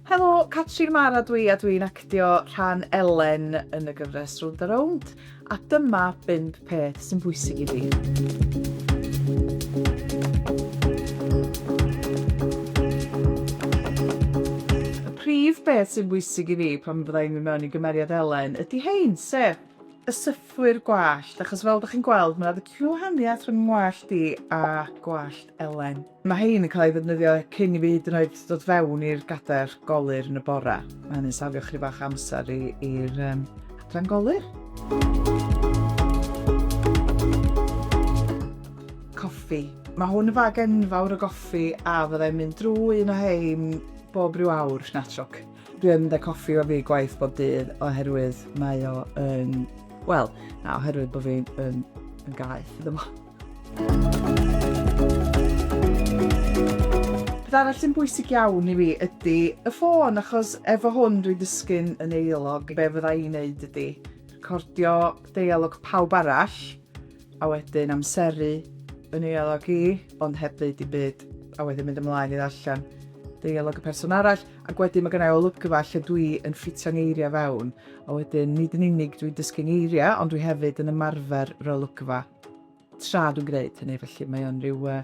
Helo, Catrin Mara dw i a dw i'n actio rhan Elen yn y gyfres Rownd a Rownd, a dyma bump peth sy'n bwysig i fi. prif beth sy'n bwysig i fi pan fydda i'n mynd mewn i gymeriad Elen ydy hein, sef y sythwyr gwallt, achos fel ydych chi'n gweld mae yna ddiwahaniaeth rhwng ngwallt i a gwallt Elen. Mae rhein yn cael eu ddefnyddio cyn i fi hyd yn oed dod fewn i'r gadair golur yn y bore. Mae hynny'n safio chri fach amser i'r um, adran golur. Coffi. Mae hwn yn fag enfawr o goffi a fyddai'n mynd drwy un o hein bob rhyw awr, natrwc. Dwi yn mynd â coffi o fi gwaith bob dydd oherwydd mae o yn... Wel, na, oherwydd bod fi yn, yn gaeth iddo fo. Peth arall sy'n bwysig iawn i fi ydy y ffôn, achos efo hwn dwi'n dysgu'n yn eilog. Be fydda i'n neud ydy recordio deialog pawb arall, a wedyn amseru yn eilog i, ond heb ddeud i byd, a wedyn mynd ymlaen i ddarllen deialog y person arall, ac wedyn mae gennau olygfa lle dwi yn ffitio ngeiriau fewn, a wedyn nid yn unig dwi'n dysgu ngeiriau, ond dwi hefyd yn ymarfer yr olygfa. Tra dwi'n gwneud hynny felly mae o'n rhyw, uh,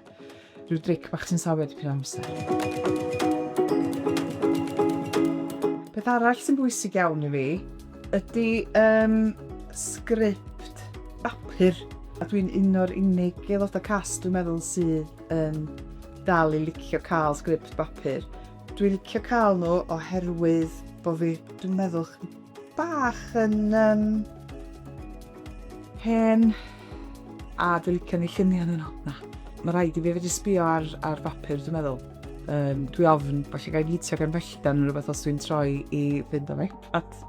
rhyw dric bach sy'n sawio dipyn o amser. Peth arall sy'n bwysig iawn i fi ydy um, sgript bapur a dwi'n un o'r unig aelodau cast dwi'n meddwl sydd yn dal i licio cael sgript bapur. Dwi'n licio cael nhw oherwydd bod fi, dwi'n meddwl, bach yn um, hen a dwi'n licio ni lluniau yn yno. Na, mae rhaid i fi fedru sbio ar, ar bapur, dwi'n meddwl. Um, dwi ofn, falle gael gitio gan felldan yn rhywbeth os dwi'n troi i fynd am iPad.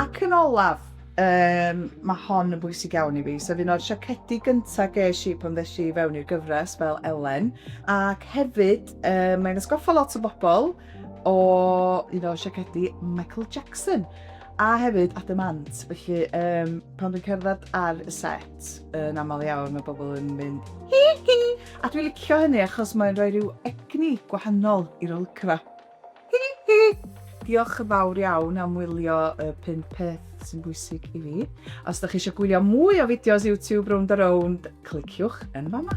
Ac yn olaf, um, mae hon yn bwysig iawn i fi. So fi'n o'r siacedi gyntaf ges i pan ddes i fewn i'r gyfres fel Elen. Ac hefyd, Uh, mae'n ysgoffa lot o bobl o un o siacedi Michael Jackson a hefyd Adam Ant. Felly, um, pan dwi'n cerdded ar y set, yn aml iawn, mae bobl yn mynd hi hi! A dwi'n licio hynny achos mae'n rhoi rhyw egni gwahanol i'r olcra. Hi hi! Diolch yn fawr iawn am wylio y 5 peth sy'n bwysig i fi. Os da chi eisiau gwylio mwy o fideos YouTube rownd a rownd, cliciwch yn fama.